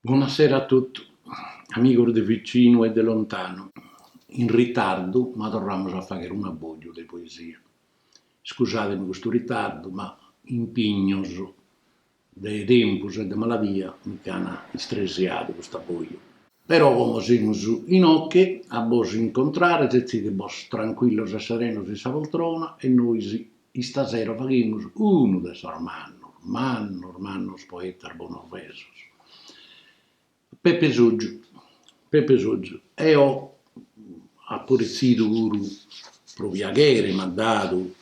Bona sera a totu, amigos de vicinu e de lontanu, in ritardu ma torramus a fagher un'abboju de poesia. Iscusademi custu ritardu ma impignos de tempus e de maladia mi ch'an istresiadu custu abboju. Però como semus inoche a bos incontrare setzidebos trancuillos e serenos in sa poltrona e nois Istasera faghimus unu de sos mannos, mannos, mannos poetas bonorvesos, Pepe Soggiu. Pepe Soggiu, eo apo retzidu puru pro piaghere, m'at dadu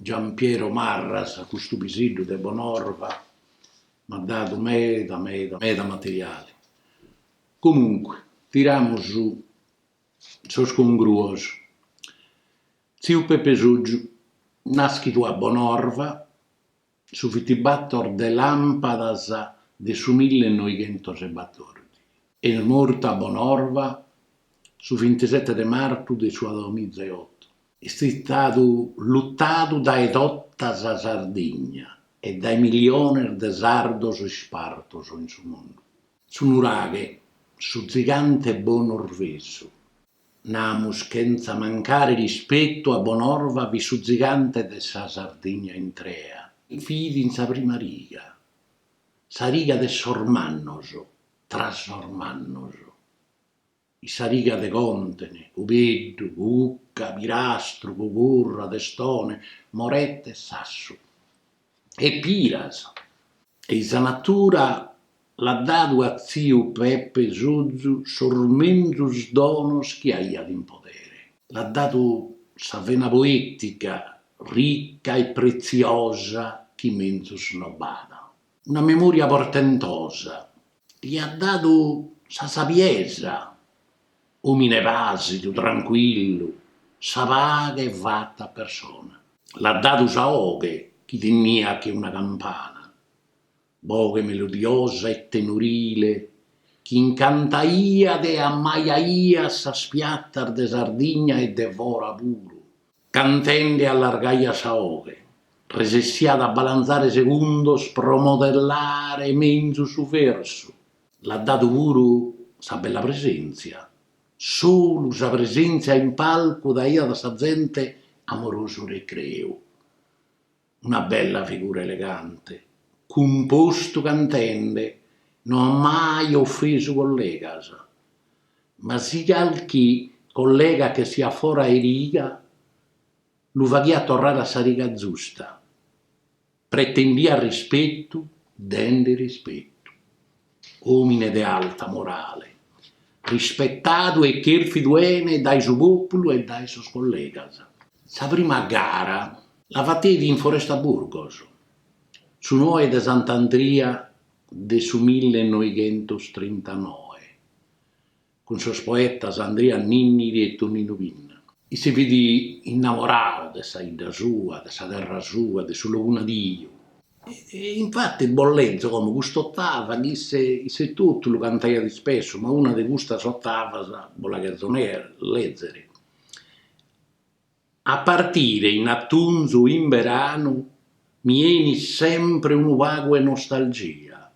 Giampiero Marras, custu piseddu de Bonorva, m'at dadu meda meda materiale. Comunque, tiramus sos congruos. Tziu Pepe Soggiu, nàschidu a Bonorva, su vintibator de làmpadas de su milli e noighentos e batòrdighi, e mortu a Bonorva su vintisete de martu de su duamiza e oto. Est istadu lutadu dae tota sa Sardigna e dae miliones de sardos ispartos in su mundu. Su nuraghe, su zigante bonorvesu, Namus chentza mancare rispetu a Bonorva fit su zigante de sa Sardigna intrea. Fit in sa prima riga, sa riga de sos mannos, tra sos mannos, in sa riga de Contene, Cubeddu, Cucca, Pirastru, Cugurra, Testone, Morette, Sassu. e Piras. E sa natura l'at dadu a tziu Pepe Sozu sos menzus donos chi aiat in podere. L'at dadu sa vena poètica rica e pretziosa chi menzus no b'at, una memòria portentosa Li at dadu sa sabiesa, òmine pàsidu, trancuillu, sa paghe fata persona. L'at dadu sa 'oghe chi teniat che una campana, boghe melodiosa e tenorile chi incantaiat e ammaiaiat sas piatas de Sardigna e de fora puru. Cantende allargaiat sa 'oghe, resessiat a balanzare segundos pro modellare menzus su versu. L'at dadu puru sa bella presèntzia, solu sa presèntzia in palcu daiat a sa zente amorosu recreu. Una bella figura elegante, cumpostu cantende, no at mai ofesu collegas. Ma si calchi collega ch'essiat fora 'e riga lu faghiat torrare a sa riga giusta, pretendiat rispetu dende rispetu. Òmine de alta morale, rispetadu e chèrfidu 'ene dae su pòpulu e dae sos collegas. Sa prima gara la fateit in Foresta Burgos, su noe de Sant'Andria de su mille e noighentos trintanoe, cun sos poetas Andria Ninniri e Toninu Pinna. Isse fit innamoradu de sa 'idda sua, de sa terra sua, de su logu nadiu. E infati bos lezo como cust'ottava chi isse totu lu cantaiat ispessu, ma una de custas ottavas bos la cherzo lezere. A partire in atunzu in beranu mi 'enit sempre unu pagu 'e nostalgia.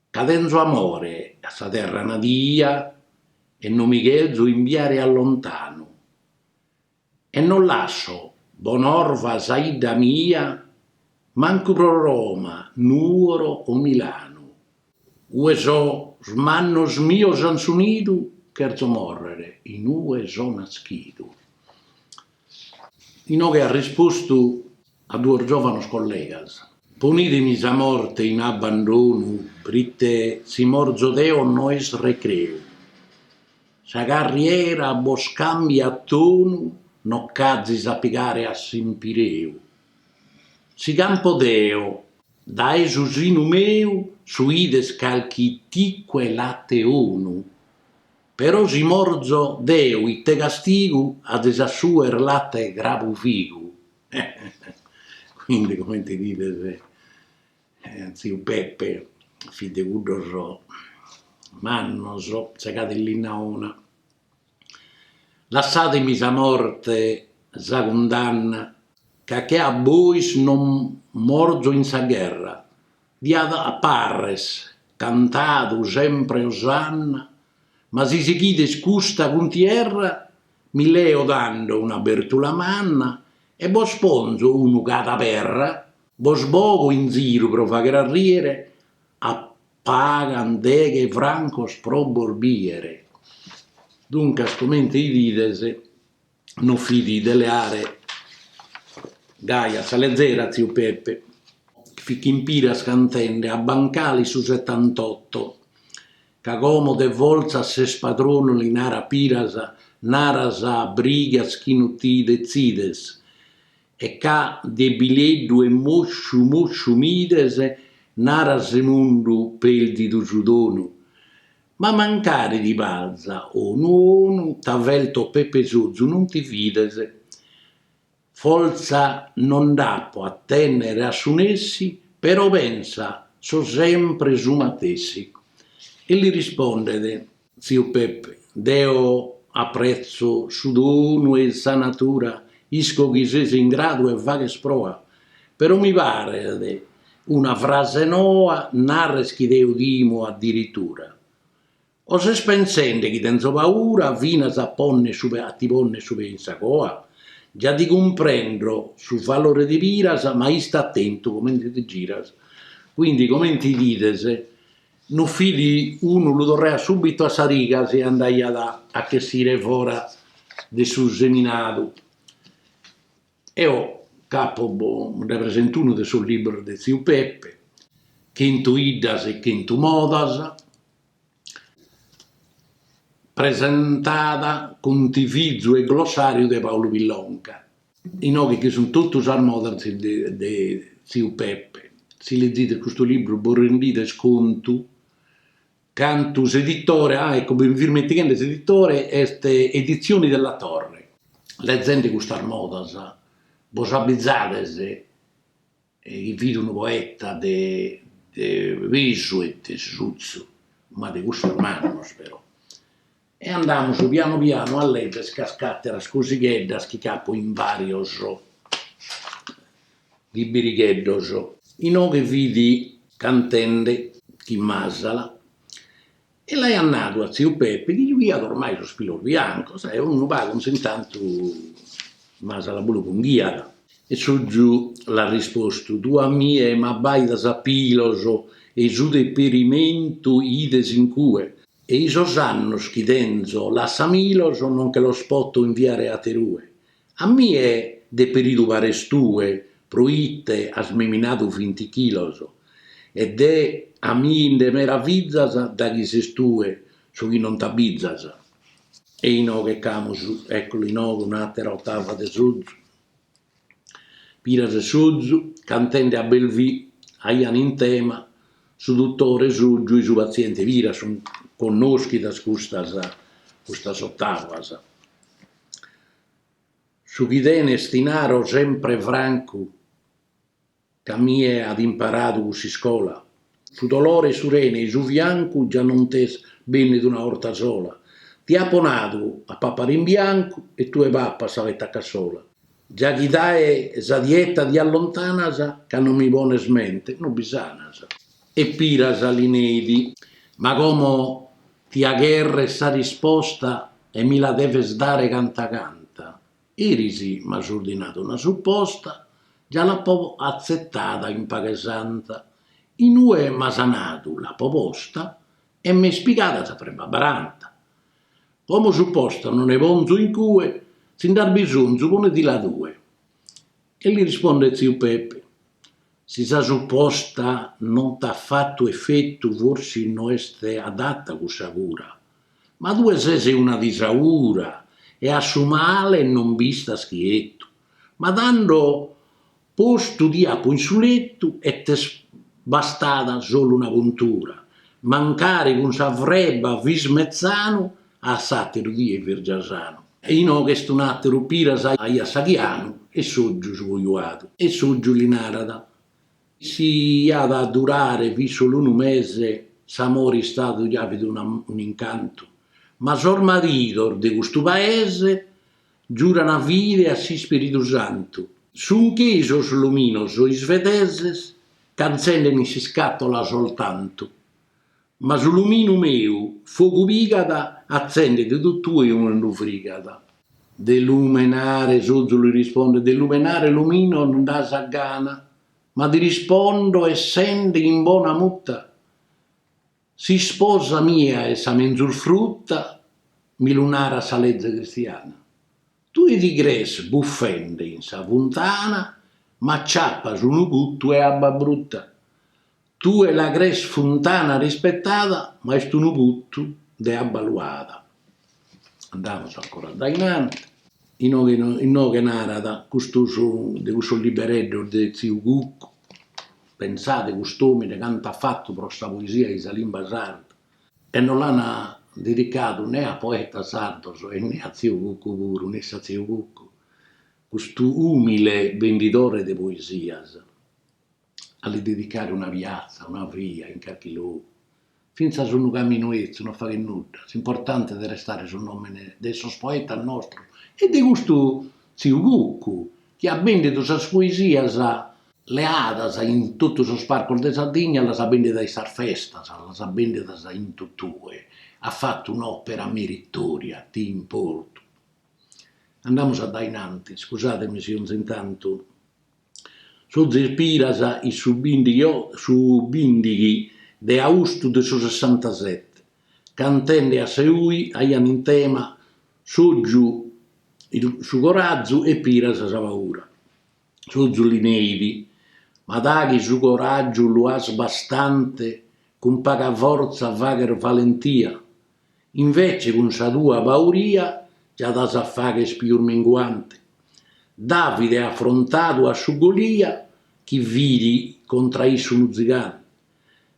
Ca tenzo amore a sa terra nadia e no mi cherzo imbiare a lontanu e no lasso Bonorva sa 'idda mia mancu pro Roma, Nuoro o Milanu. Ue sos mannos mios an su nidu cherzo morrer in ue so naschidu. Inoghe at rispostu. A duos giòvanos collegas. Ponidemi sa morte in abbandonu prite si morzo deo no est recreu. Sa carriera bos càmbiat tonu no ch'azis a pigare a s'impireu. Si campo deo dae su sinu meu suides calchi ticu 'e late 'onu. Però si morzo deo ite castigu ades a suer latte 'e crabufigu Quindi comente 'idides tziu Peppe fit de cuddos mannos, segadu 'e linna 'ona Lassademi sa morte sa cundanna ca che a bois non morzo in sa gherra Diat a parres cantadu sempre osanna, ma si sighides custa cuntierra mi leo tando una bertula manna e bos ponzo unu cada perra, bos bogo in ziru pro fagher a riere a pagan deghe francos pro bos biere. Duncas comente 'idides. no fidi de leare gai a sa lezera tziu Peppe, chi fit chin Piras cantende a Bancali su setantotto, ca como de fortza ses padronu li narat Piras, naras a brigas chi no ti detzides, e ca debileddu e mosciu mosciu m'ides, naras Remundu perdidu su donu. Ma mancari ti parza 'onu 'onu, t'averto Pepe Sozu non ti fides, fortza non nd'apo a tènnere a su nessi, però pensa so sempre su matessi. E li rispondet tziu Pepe, Deo apretzo su donu 'e sa natura, isco chi ses in gradu e faghes proa Però mi paret una frase noa, nares chi deo timo adiritura. O ses pensende chi tenzo paura finas a ponner su a ti ponner su pe in sa coa? Gia ti cumprendo su valore de Piras ma ista atentu comente ti giras. Quindi comente bides no fit unu lu torraiat subitu a sa riga si andaiat a ch'essire fora de su seminadu. Eo ch'apo nde presento unu de sos libros de tziu Peppe, Chentu 'iddas e chentu modas, presentada cuntivizu e glossàriu de Paulu Pillonca, inoghe che sunt totu sas modas de tziu Peppe. Si lezides custu libru bos rendides contu Cantu s'editore, ah ecco mi fia ismentighende s'editore est Edizioni della Torre. Lezende custas modas bos abbizades chi fit unu poeta de pesu e de suzzu, ma de cussus mannos però. E andamus pianu pianu a lèzere calch'àteras cosigheddas chi ch'apo in bàrios liberigheddos. Inoghe fit cantende chin Masala e l'aiat nadu a tziu Peppe chi giughiat ormai sos pilos biancos e unu pagu in s'intantu Masala puru punghiat. E Sozu l'at rispostu, Tue a mie m'abbàidas a pilos e su deperimentu 'ides in cue? E i sos annos chi tenzo lassamilos no nche los poto inviare aterue, a mie deperidu pares tue pro ite as meminadu vinti chilos e de a mie nde meravizas daghi ses tue su chi non t'abbizas. E inoghe ch'amus, eccolo inoghe un'atera ottava de Sozu. Piras e Sozu, cantende a Belvì, aiant in tema su dutore Sotgiu e su patziente Piras. Sunt connoschidas custas custas ottavas. Su chi tenes ti naro sempre francu. c'a mie at imparadu cuss'iscola, su dolore 'e su rene e su fiancu già non t'est bennidu una 'orta sola, ti apo nadu a papare in biancu e tue papas sa peta a cassola. Già chi dae sa dieta ti allontanas, ca non mi pones mente no bi sanas. E Piras li neit, ma como ti agherres sa risposta e mi la deves dare canta canta, Eris m'as ordinadu una suposta, già l'apo atzetada in paghe santa, in ue m'as nadu l'apo posta e m'est pigada sa freba a baranta. Como suposta no nde ponzo in cue, si nd'as bisonzu ponedila tue. E li rispondet tziu Pepe, Si sa suposta non t'at fatu efetu forsis no est adata cussa cura, Ma tue ses una disaura e a su male non b'istas chietu, ma tando postu ti apu in su letu e t'est bastada solu una puntura, mancari cun sa freba fis metzanu a s'ateru die fis già sanu. E inoghe est un'ateru, Piras aiat s'aghianu e Sotgiu su cojuadu. E Sotgiu li narat, Si iat a durare fit solu unu mese, s'amore istadu ja fit un'incantu, ma sos maridos de custu paese giuran fide a s'ispiridu santu. Sun che i sos luminos isvedeses ch'atzenden in s'iscatola soltantu, Ma su luminu meu fogu pigat, atzendit totue ue unu frigat. De lumenare Sozu li rispondet, de lumenare luminu no nd'as a gana, ma ti rispondo essende in bona muta, s'isposa mia est sa menzus fruta, mi lu narat sa leze cristiana. Tue ti crees buffende in sa funtana, ma acciappas unu putu 'e abba bruta. Tue la crees funtana rispetada, ma est unu putu de abba luada. Andamus ancora addainanti. Inoghe inoghe narat custu est de cussos libereddos de tziu Cuccu, pensade cust'omine cantu at fatu pro sa poesia in sa limba sarda e no l'an dedicadu ne a poetas sardos e ne a tziu Cuccu puru, nessi a tziu Cuccu, custu umile bendidore de poesias. a li dedicare una piatza, una via, in carchi logu, fintzas unu caminu 'etzu, no faghet nudda, s'importante de restare su nòmene de sos poetas nostros e de custu tziu Cuccu chi at bèndidu sas poesias leadas in totu sos parcos de Sardigna, las at bèndidas in sas festas, las at bèndidas in totue, at fatu un'òpera meritòria, d'importu. Andamus a dae in antis, scusàtemi si 'onzi in tantu. Sozu e Piras in su bìndighi su bìndighi de austu de su sessantasete, cantende a Seui, aiant in tema Sotgiu su corazu e Piras sa paura. Sotgiu li neit, Ma daghi su coràgiu lu as bastante cun paga fortza faghes valentia, Invece cun sa tua pauria già t'as a fagher pius minguante. Davide at afrontadu a su Golia chi fit contra issu unu zigante,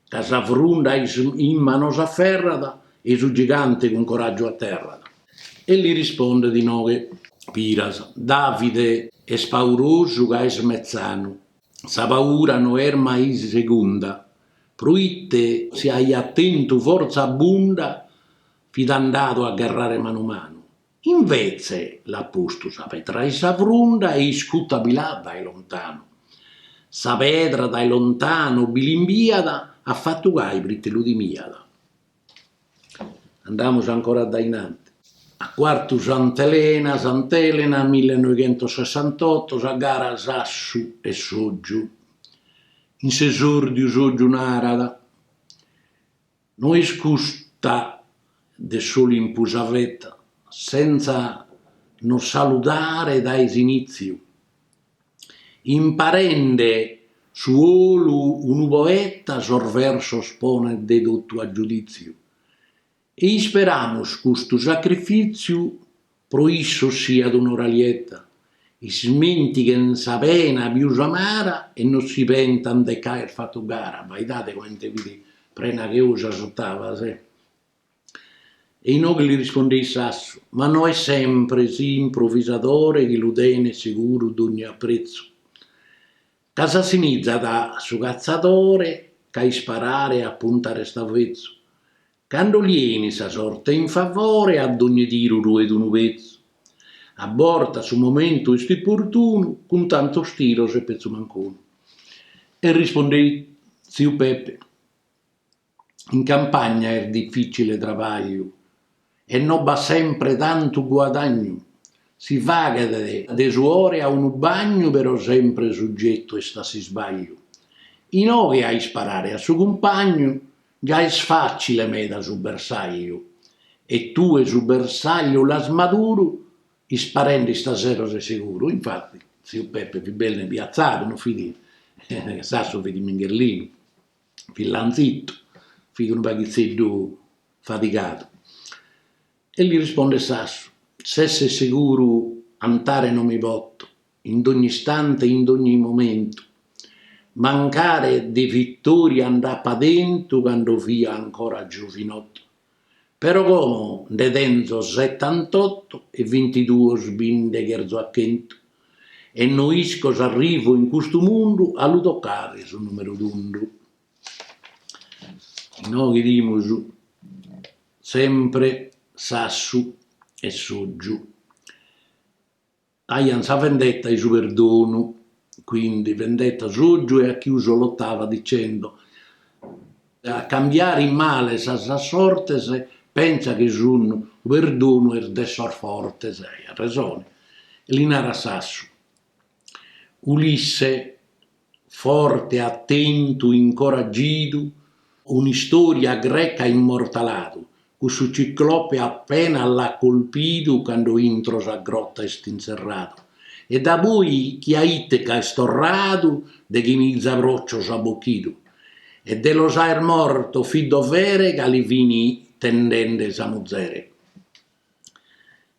ca sa frunda isse in manos aferrat e su gigante cun coraggiu aterrat. E li rispondet inoghe Piras, Davide est paurosu ca est metzanu. Sa paura no est mai segunda, Proite si aiat tentu fortza abbunda fit andadu a gherrare manu manu. Invetze l'at postu sa pedra in sa frunda e iscuta bi l'at dae lontanu. Sa pedra dae lontanu bi l'imbiat, at fatu gai prite lu timiat. Andamus ancora dae in anti. A Quartu Sant'Elena, Sant'Elena, millenoighentossessantoto, sa gara Sassu e Sotgiu. In s'esòrdiu Sotgiu narat, No est custa de s'Olimpu sa veta, sentza nos saludare dae s'inìtziu. Imparende su olu unu poeta sos versos ponet de totu a giudìtziu e isperamus custu sacrifìtziu pro issos siat un'ora lieta, ismentighen sa pena pius amara e no si pentan de c'aer fatu gara, abbaidade comente fit prena che ou sas otavas. E inoghe li rispondeit Sassu, Ma no est sempre s'improvisadore chi lu tenet seguru dogni apretzu, ca s'assimizat a su catzadore ch'a isparare e a puntare est avetzu, cando li enit sa sorte in favore a dogni tiru ruet unu petzu, a bortas su momentu est importunu cun tantos tiros e petzu mancunu. E rispondeit tziu Peppe. In campagna est difìtzile trabàgliu e no b'at sempre tantu guadagnu, si faghet de suore a unu bagnu però sempre sugetu est a s'isbagliu. Inoghe a isparare a su cumpagnu già est fàtzile meda su bersagliu e tue su bersagliu l'as maduru isparende istasero ses seguru. Infatti tziu Peppe fit bellu impiatzadu, no fit, Sassu fit mingherlinu. fit lanzitu, fit unu paghitzeddu fatigadu. E li rispondet Sassu, S'esser seguru antare no mi poto, in dogni istante e in dogni momentu, mancari de vittoria nd'apa tentu cando fia ancora giovinotu. Però como nde tenzo setantotto e vintiduos bi nde cherzo a chentu, e no isco s'arrivo in custu mundu a lu tocare su numeru tundu. Inoghe 'idimus sempre Sassu e Sotgiu. Aiant sa vendetta e su perdonu, quindi vendetta Sotgiu e ha chiuso l'ottava dicendo, a cambiare in male sas sortes pensa chi su perdonu est de sos fortes. Aiat resone. Li narat Sassu. Ulisse. Forte, atentu, incoraggidu, un'istoria greca immortaladu, cussu ciclope appena l'at colpidu cando intro sa grotta est inserradu, e da poi chi a Itaca est torradu deghe miza procios at bocchidu, e de los aer morto fit dovere ca li fin tentende sa muzere.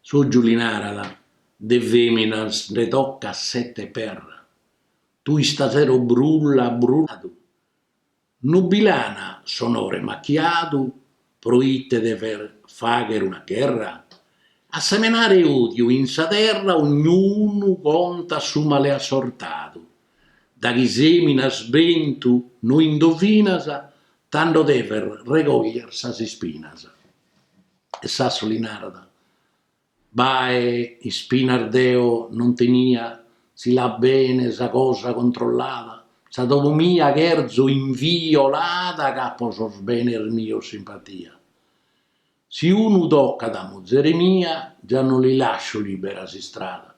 Sotgiu li narat, de feminas nde toccat sette perra. Tue istasero brulla brulladu, no bi l'ana s'onore machiadu proite deves fagher una gherra? A semenare odiu in sa terra ognunu contat su male assortadu, da chi seminas bentu no indovinas tando deves regogher sas ispinas. E Sassu li narat. Bae, ispinas deo non tenia, si l'at bene sa cosa controllada, sa domo mia cherzo inviolada ca po sos benes mios simpatia. Si unu tocat a muzere mia già non li lascio libera s'istrada.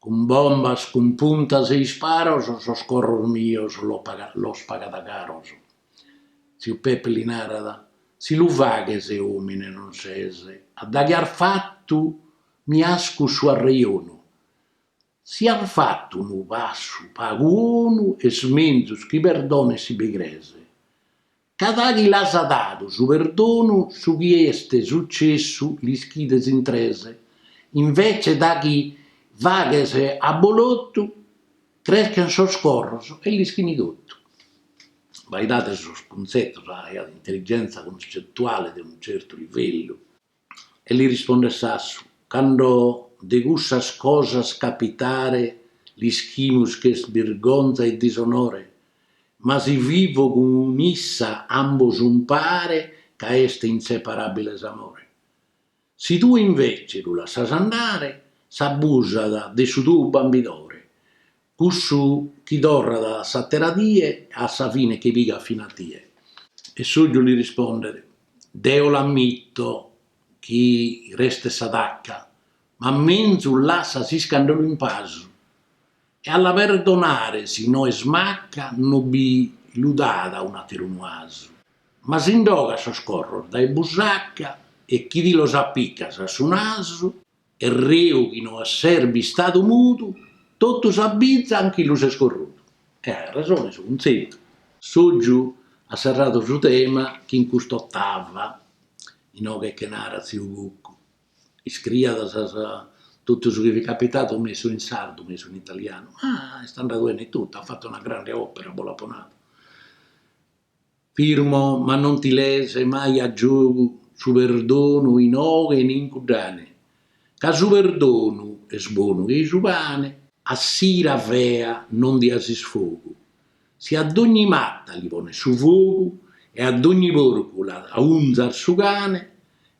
Cun bombas, cun puntas e isparos sos corros mios los pagat caros. Tziu Peppe li narat, Si lu faghes òmine non ses, a daghi as fatu mi ascus su arreionu. Si as fatu unu passu pagu 'onu est menzus chi perdones si bi cres. Ca daghi l'as dadu su perdonu su chi est sucessu l'ischides in tres, invece daghi faghes abolotu creschen sos corros e l'ischini totu. Baidade sos cuntzetos b'at intelligenza cuncettuale de unu certu livellu. E li rispondet Sassu, Cando de cussas cosas capitare l'ischimus ch'est birgonza e disonore, ma si vivo cun issa ambos umpare ca est inseparabile s'amore. Si tue invece lu lassas andare s'abusat de su tou bambidore, Cussu chi torrat s'àtera die a sa fine che pigat fina a tie. E Soggiu li rispondet, Deo l'ammito chi restet sa tacca, ma menzus lassa s'iscàndalu in pasu, e a la perdonare si no est macca no bi lu dat a un'àteru unu 'asu. Ma si nd'ogas sos corros dae busacca e chi ti los apicas a su nasu. E reu chi no ses bistadu mudu, totu s'abizan chi lu ses corrudu. E at resone su cuntzetu. Soggiu at serradu su tema chin cust'ottava, inoghe che narat tziu Cuccu. Iscriat totu su chi fit capitadu, mesu in sardu, mesu in italianu, ma est andadu bene totu, at fatu una grande opera, bo l'apo nadu. Firmo ma non ti les mai a giogu su perdonu inoghe e in cuddane, ca su perdonu est bonu che-i su pane. A s'ira fea non dias isfogu, si a dogni matta li pones su fogu e a dogni porcu l'aunzas su cane,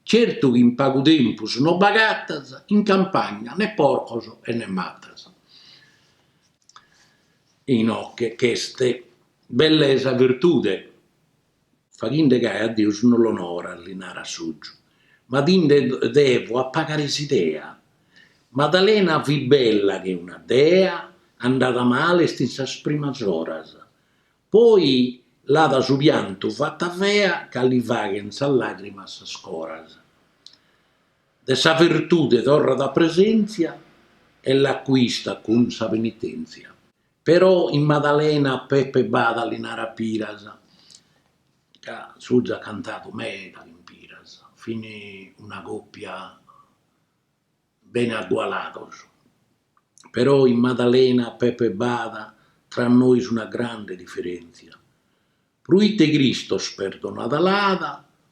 certu chi in pagu tempus no b'agatas in campagna ne porcos e ne mattas. Inoche ch'est Bellesa virtude, faghinde gai a Deus no l'onoras, li narat Soggiu, ma ti nde devo appagare s'idea. Madalena fit bella che una dea, andada male est in sas primas oras, poi l'at su piantu fatta fea ca li faghen sas lagrimas sas coras. De sa virtude torrat a presenzia e l'acquistat cun sa penitenzia. Però in Madalena Pepe b'at li narat Piras, ca Soggiu at cantadu meda cun Piras, fin una còpia bene agualados. Però in Madalena Pepe b'at tra nois una grande diferèntzia. Pruite Cristos perdonada l'at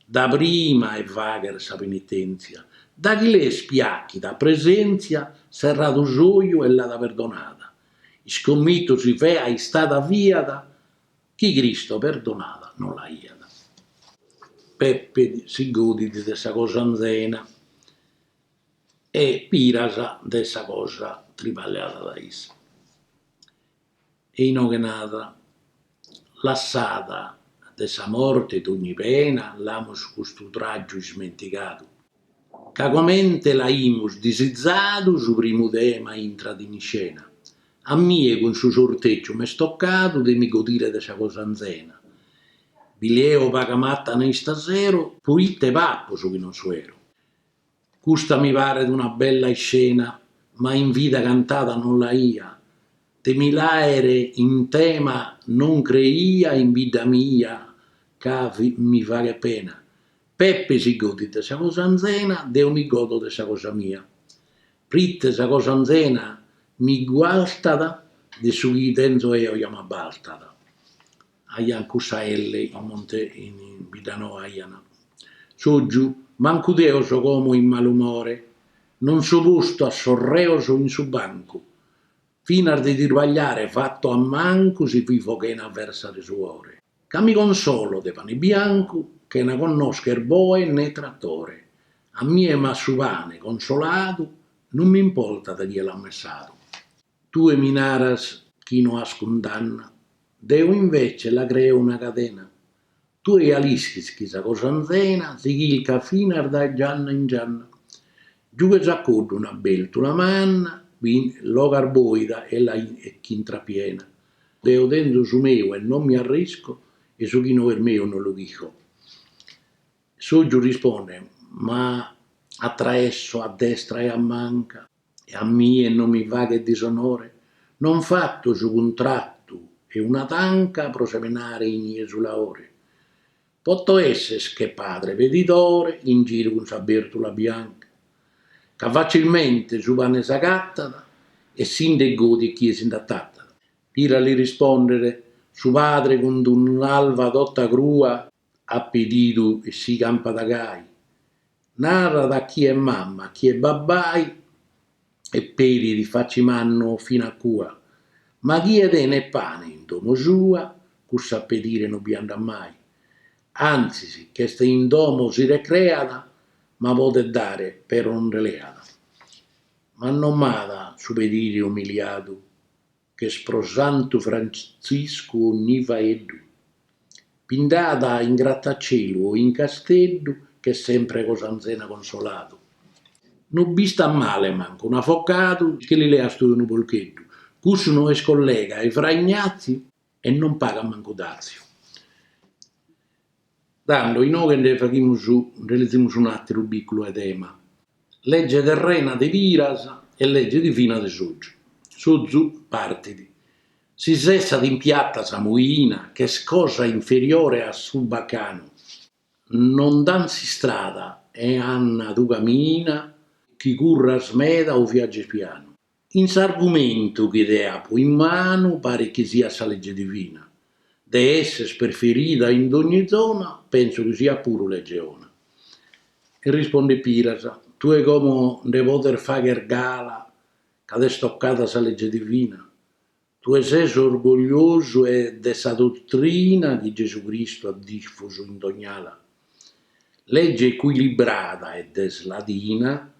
da prima 'e fagher sa penitèntzia, da chi l'est piachida a presèntzia serradu s'oju e l'at perdonada, iscommitu si fea istada fiat chi Cristo perdonada no l'aiat. Peppe si godit de sa cosa anzena e Piras de sa cosa triballada da issa. E inoghe nat, Lassada de sa morte dogni pena l'amus custu tràgiu ismentigadu, ca comente l'aimus disizadu su primu tema intrat in iscena, a mie cun su sortègiu m'est tocadu de mi godire de sa cosa anzena, bi leo paga matana istasero, poite papo su chi non suero. Custa mi paret una bella iscena, ma in vida cantada non l'aia, de mi l'àere in tema non creia in bidda mia ca mi faghet pena. Peppe si godit de sa cosa anzena, deo mi godo de sa cosa mia. Prite sa cosa anzena mi gualtat, de su chi tenzo eo ja m'abbaltat. Aiant cussa elle comente in Biddanoa aiant Sògiu, mancu deo so como in malumore, non so postu a sos reos in su bancu, finas de tirbagliare fatto a mancu si vivo chena versa de suore, ca mi consolo de pane biancu chena connoscher boe ne trattore, a mie m'at su pane consoladu non m'importat chie l'at messadu. Tue mi naras chi no as cundanna, deo invece la creo una cadena, tue ja l'ischis chi sa cosa anzena si chilcat finas dae gianna in gianna. Giughes a coddu una bèrtula manna, l'ogas bòida e la ch'intras piena. Deo tenzo su meu e non mi arrisco e su chi no est meu no lu chilco. Sògiu rispondet, ma a traessu, a destra e a manca. e a mie no mi faghet disonore, non fatto su cuntratu 'e una tanca pro semenare in ie su laore, poto esser che padre pedidore in giru cun sa bertula bianca, ca facilmente su pane s'agattat e si nde godit chie si nd'atattat. Piras li rispondet su padre cun d'un'alva tota crua. at pedidu e si campat gai, narat a chie mama a chie babbai e pedit faci mannu fina a cua, ma chie tenet pane in domo sua, cussu a pedire no bi andat mai, antzis ch'est in domo si recreat, ma podet dare però no nde leat. Ma no m'at su pedire umiliadu? ch'est pro Santu Frantziscu onni faeddu, pindada in gratacielu o in casteddu ch'est sempre cos'anzena consoladu. No b'istat male mancu un'avocadu chi li leas tue unu polcheddu, cussu no est collega 'e Fra Ignatziu e non pagat mancu datziu. Tando inoghe nde faghimus nde lezimus un'ateru bìculu 'e tema, Lege terrena de Piras e lege divina de Sozu. Sozu partit. Si sessat in piatta sa moina, ch'est cosa inferiore a su bacanu, nos dant s'istrada e nant tue camina, chi curras meda o viages pianu. In s'argumentu chi deo apu in manu parit chi siat sa lege divina, de esser preferida in dogni zona, penso chi siat puru lege 'ona. E rispondet Piras, tue como nde podes fagher gala ca t'est tocada sa lege divina? Tue ses orgogliosu e de sa dotrina chi Gesu Cristu at difusu in dogn'ala. Lege ecuilibrada ed est ladina,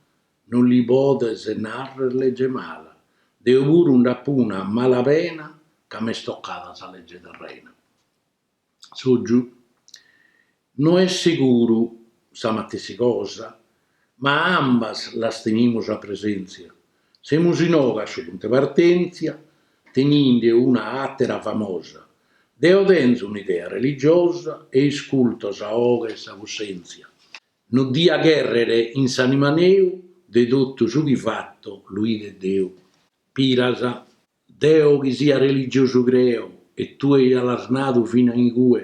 non li podes narrer lege mala, deo puru nd'apo una a mala pena ca m'est tocada sa lege terrena. Sogiu, no est seguru sa matessi cosa, ma ambas las tenimus a presèntzia, semus inoghe a su puntu 'e partentzia, teninde una àtera famosa, deo tenzo un'idea religiosa e isculto sa 'oghe 'e sa cussèntzia, No dia cherrere in s'anima neu de totu su chi fatto lu ide Deu. Piras, deo chi sias religiosu creo e tue ja l'as nadu fina incue,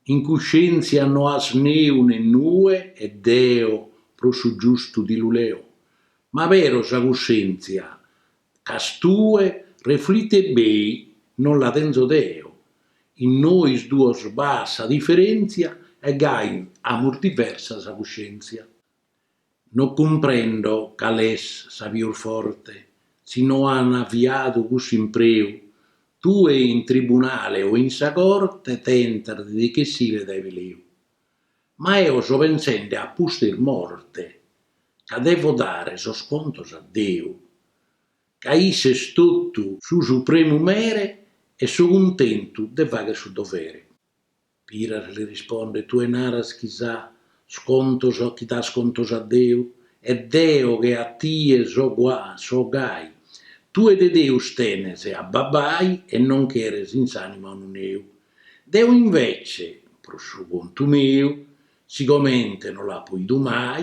in cuscientzia no as neu ne nue e deo pro su giustu ti lu leo. Ma però sa cuscientzia ch'as tue, refleti bei, non la tenzo deo, in nois duos b'at sa diferentzia e gai amus diversa sa cuscientzia. No cumprendo cal est sa pius forte, si nos an aviadu cussu impreu, tue in tribunale o in sa corte tentas de ti ch'essire dae peleu. Ma eo so pensende a pustis morte, ca devo dare sos contos a Deu, ca isse est totu su supremu mere e so cuntentu de fagher su dovere. Piras li rispondet, Tue naras chi sas contos chi das contos a Deu, e deo che a tie so so gai. Tue de Deus tenes a babai e non cheres in s'anima unu neu. Deu invece, pro su contu meu, sigomente no l'apo bidu mai,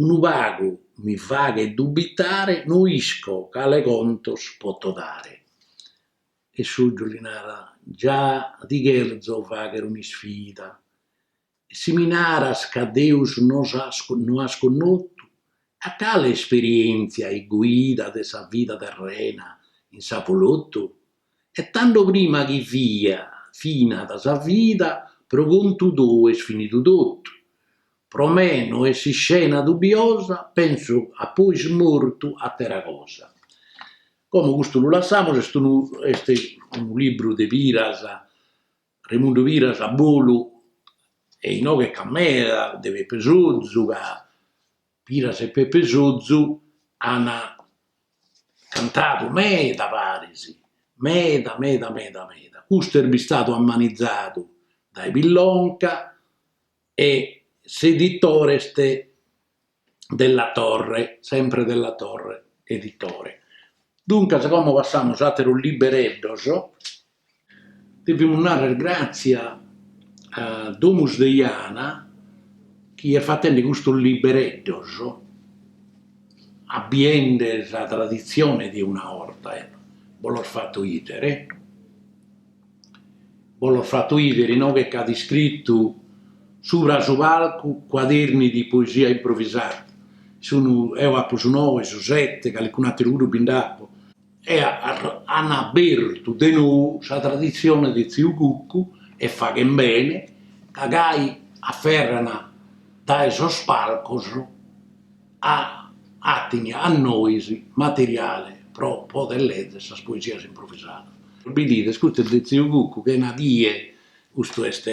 unu pagu mi faghet dubitare, no isco cale contos poto dare. E Sozu li narat, Già ti cherzo fagher un'isfida, E si mi naras ca Deus no as connotu, a cale esperièntzia e guida de sa vida terrena in s'avolotu? E tando prima chi fiat finida sa vida pro contu tou est finidu totu. Pro me no est s'iscena dubiosa, penso a pois mortu a atera cosa. Como custu lu lassamus, est unu est unu libru de piras Raimundu Piras a bolu e inoghe ch'at meda de Peppe Sozu ca Piras e Peppe Sozu ana cantadu meda paris, meda meda meda meda, custu est bistadu ammanizadu dae Pillonca e s'editore est Della Torre, sempre Della Torre editore. Duncas como passamus a ateros libereddos, devimus narrer gratzia a Domus de Jana chi est fatende custos libereddos, abivende sa traditzione de una 'orta, eccu, bo los fatu 'idere. Bos los fato 'idere inoghe c'at iscritu subra su palcu cuaderni di poesia improvisada. Sun, eo apo su noe, su sete, calicunu ateru puru bi nd'apo. E an abertu de nou sa traditzione de tziu Cucu e faghen bene ca gai aferran dae sos palcos e 'atin a nois materiale pro poder lezer sas poesias improvisadas. Bidides, custu est de tziu Cucu, chena die, custu est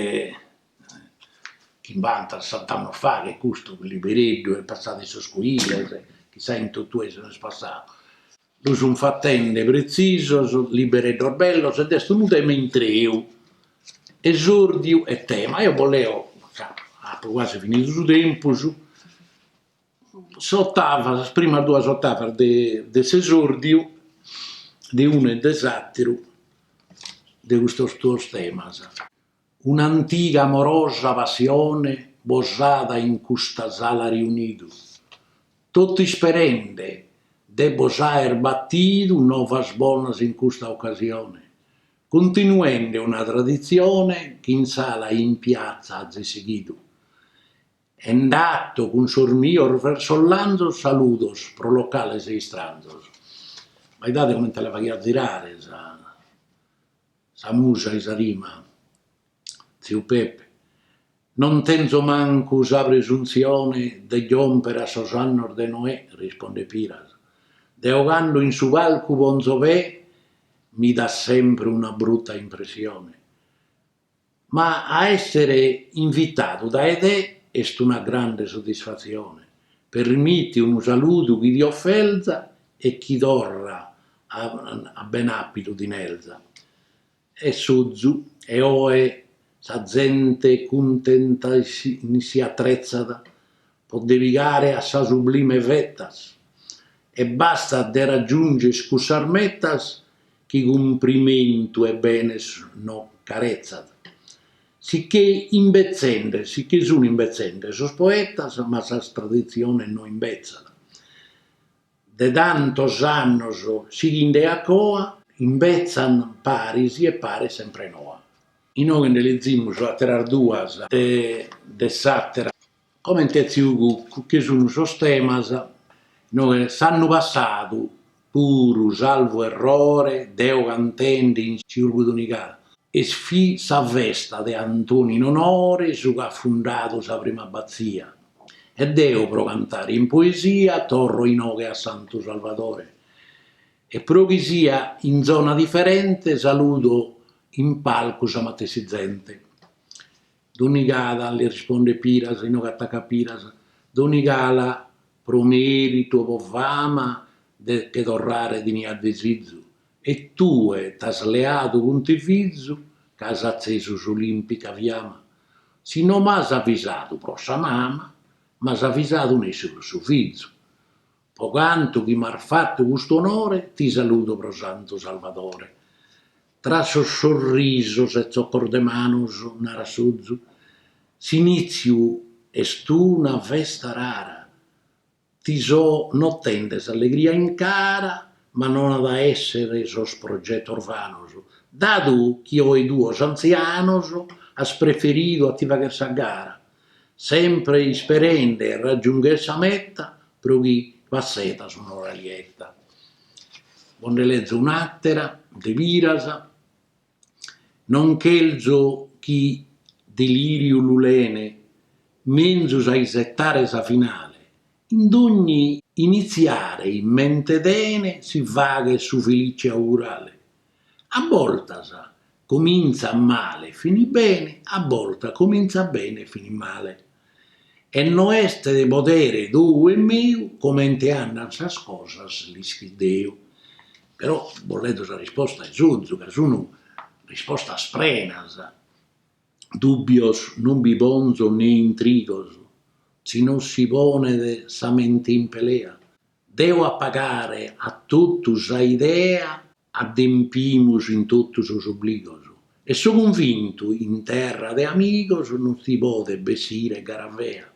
chimbanta sessant'annos faghe custu libereddu est passadu in sos cuiles, chissà in totue si no est passadu. Lu sun fatende pretzisos, libereddos bellos ed est unu tema intreu, esòrdiu e tema. Eo bos leo, apo quasi finidu su tempus, s'otava, sas primas duas otavas de s'esòrdiu, de unu e de s'àteru, de custos duos temas. Un'antiga amorosa passione bos at in custa sala riunidu, totu isperende de bos aer batidu novas bonas in custa ocasione, cuntinuende una traditzione chi in sala e in piatza azis sighidu. E 'ato cun sos mios versos lanzos saludos pro locales e istranzos. Ma 'idade comente la faghiat zirare. Sa musa 'e sa rima. Tziu Pepe, Non tenzo mancu sa presunzione de giomper a sos annos de Noè, rispondet Piras, deo cando in su palcu ponzo pè mi dat sempre una brutta impressione, Ma a èssere invitadu dae te est una grande soddisfatzione, permiti unu saludu chi ti oferza e chi torra a ben'àpidu ti nerza. E Sozu, e oe sa zente cuntenta si atretzat po de pigare a sa sublime vetas e bastat de raggiunger cussas metas chi cumprimentu 'e benes no caretzat si che imbetzende si che sun imbetzende sos poetas ma sas traditziones no imbetzat de tantos annos sighinde a coa imbetzan paris e paret sempre noa. Inoghe nde lezimus ateras duas de s'atera. Comente tziu Cuccu, chi sunu sos temas, no, e s'annu passadu puru salvu errore deo cantende in Siurgus Donigala est fit sa festa de Antoni in onore su ch'at fundadu sa prima abbazia e deo pro cantare in poesia torro inoghe a Santu Salvadore e pro chi sia in zona diferente saludo in palcu sa matessi zente Donigala, li rispondet Piras, inoghe atacat Piras, Donigala pro mèritu o pro fama de che torrare tenia desizu, e tue t'as leadu cuntivizu ch'as atzesu s'olimpica fiama. Si no m'as avisadu pro sa mama, m'as avisadu nessi pro su fizu. Po cantu chi m'as fatu custu onore ti saludo pro Santu Salvadore. Tra sos sorrisos e tzocos de manos narat Sozu, s'inìtziu est una festa rara, ti so notende s'allegria in cara ma non at a èssere sos progetos vanos, dadu chi oe duos antzianos as preferidu a ti fagher sa gara, Sempre isperende 'e raggiungher sa meta pro chi passedas un'ora lieta. Bo nde lezo un'àtera de Piras, non cherzo chi delìriu lu lene menzus a isetare sa finale, in dogni initziare in mente tene si faghet su felice augurale, A bortas comintzat male e finit bene, a bortas comintzat bene e finit male. E no est de podere tou e meu comente andan sas cosas l'ischit Deu. Però bos lezo sa risposta de Sozu ca sun rispostas prenas, dùbbios non bi ponzo ne intrigos, si no si ponet sa mente in pelea, Devo apagare a totu sa idea. Adempimus in totu sos obligos. E so cunvintu in terra de amigos non si podet bessire gara fea.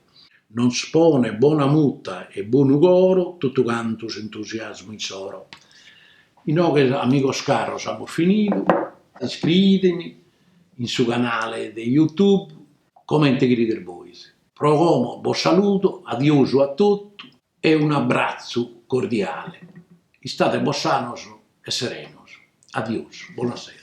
Nos ponet bona muta e bonu coro totu cantu s'entusiasmu issoro. Inoghe amigos caros amus finidu, iscriidemi in su canale de youtube comente cherides bois. Pro como bos saludo, adiosu a totu. E un'abbratzu cordiale. Istate bos sanos e serenos. Adios. Bona sera.